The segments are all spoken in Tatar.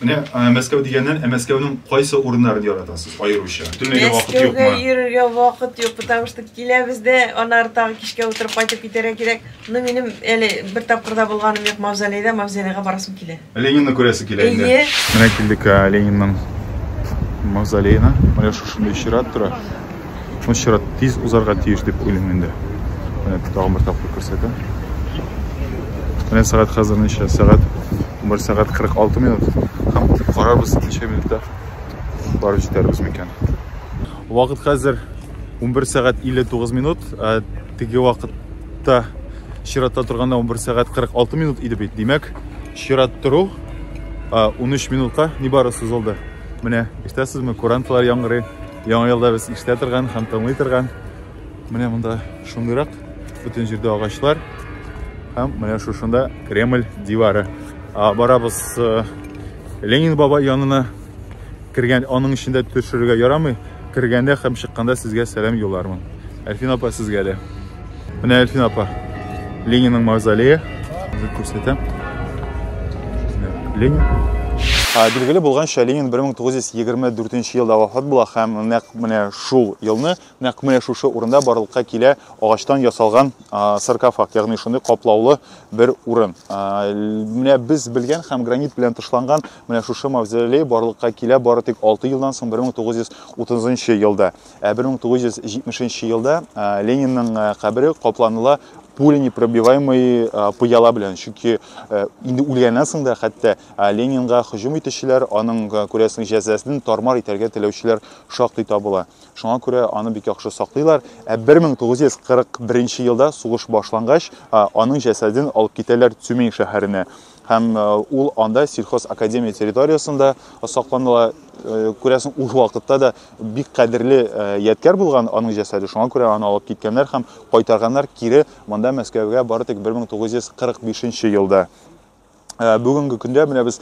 Менә Мәскәү дигәннән, ә Мәскәүнең кайсы урыннарын яратасыз аеруча? Бөтенләйгә вакыт юкмы? Мәскәүгә йөрергә вакыт юк, потому что киләбез дә, аннары тагы кичкә утырып кайтып китәргә кирәк. Ну, минем әле бер тапкыр да булганым юк Мавзолейда, Мавзолейга барасым килә. Ленинны күрәсе килә инде. Әйе. Менә килдек Ленинның Мавзолеена. Менә шушындый чират тора. Шуңа чират тиз узарга тиеш дип уйлыйм инде. Менә тагын бер тапкыр күрсәтәм. Менә сәгать хәзер ничә? Сәгать 1 сәгать 46 минут. Һәм карарбыз ничә минутта барып җитәрбез микән. Вакыт хәзер 11 сәгать 59 минут. Ә теге вакытта чиратта торганда 11 сәгать 46 минут иде бит. Димәк, чират тору 13 минутка нибары сузылды. Менә, ишетәсезме, куранталар яңгырый. Яңа елда без ишетә торган һәм тыңлый торган. Менә монда шундыйрак бөтен җирдә агачлар һәм менә шушында Кремль дивары. Барабыз э, Ленин бабай янына кергән, аның эчендә төшерергә ярамый. Кергәндә һәм чыкканда сезгә сәлам юллармын. Әлфин апа сезгә дә. Менә Әлфин апа. Ленинның мавзолее. Үзі көрсетем. Ленин. Билгеле болғанша Ленин 1924 елда вафат була һәм нәк менә шул елны нәк менә шушы урында барлыкка килә агачтан ясалган саркофаг, ягъни шундый каплаулы бер урын. Менә без белгән һәм гранит белән тышланган менә шушы мавзолей барлыкка килә бары тик 6 елдан соң 1930 елда. Ә 1970 нче елда Ленинның кабере капланыла пуленепробиваемый пыяла белән. Чөнки инде үлгәннән соң да хәтта Ленинга һөҗүм итүчеләр, аның күрәсең җәзасын тармар итәргә теләүчеләр шактый табыла. Шуңа күрә аны бик яхшы саклыйлар. Ә 1941 елда сугыш башлангач, аның җәсәден алып китәләр Цюмень шәһәренә. Һәм ул анда сельхозакадемия территориясендә сакланыла. Күрәсең, ул вакытта да бик кадерле ядкәр булган аның җәсәде. Шуңа күрә аны алып киткәннәр һәм кайтарганнар кире монда Мәскәүгә бары тик 1945 елда. Бүгенге көндә менә без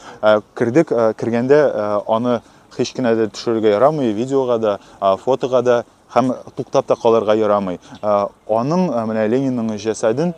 кердек, кергәндә аны һич кенә дә төшерергә ярамый, видеога да, фотога да. Һәм туктап та калырга ярамый. Аның, менә Ленинның җәсәден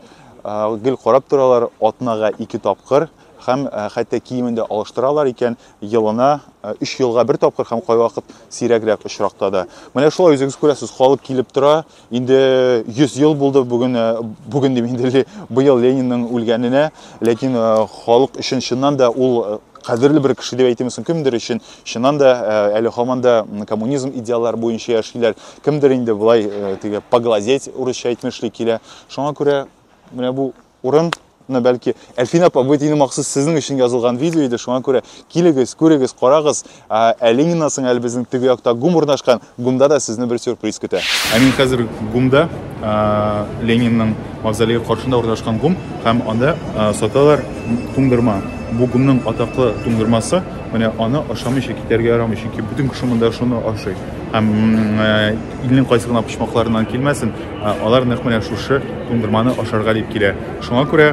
гел карап торалар атнага ике тапкыр һәм хәтта киемен дә алыштыралар икән, елына өч елга бер тапкыр һәм кайвакыт сирәгрәк очракта да. Менә шулай үзегез күрәсез, халык килеп тора. Инде 100 ел булды бүген, бүген дим инде быел Ленинның үлгәненә, ләкин халык өчен чыннан да ул кадерле бер кеше дип әйтимсең, кемдер өчен Чыннан да, әле хаман да коммунизм идеаллары буенча яшиләр. Кемдер инде болай теге поглазеть урысча әйтмешли килә. Шуңа күрә менә бу урын мына бәлки әлфин апа бу дини махсус сезнең өчен язылган видео иде шуңа күрә килегез күрегез карагыз ә лениннан соң әле безнең теге якта гум урнашкан ГУМда да сезне бер сюрприз көтә. Ә мин хәзер ГУМда, Ленинның мавзолее каршында урнашкан ГУМ, һәм анда саталар туңдырма. Бу ГУМның атаклы туңдырмасы, менә аны ашамыйча китәргә ярамый, чөнки бөтен кеше монда шуны ашый. Һәм илнең кайсы гына почмакларыннан килмәсен, алар нәкъ менә шушы туңдырманы ашарга дип килә. Шуңа күрә,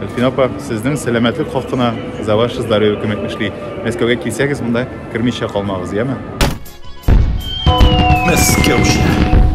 Әлфинә апа, сезнең сәламәтлек хакына за ваше здоровье күмәк эшли. Мәскәүгә килсәгез, монда. Кермичә калмагыз, яме? Мәскәүчә.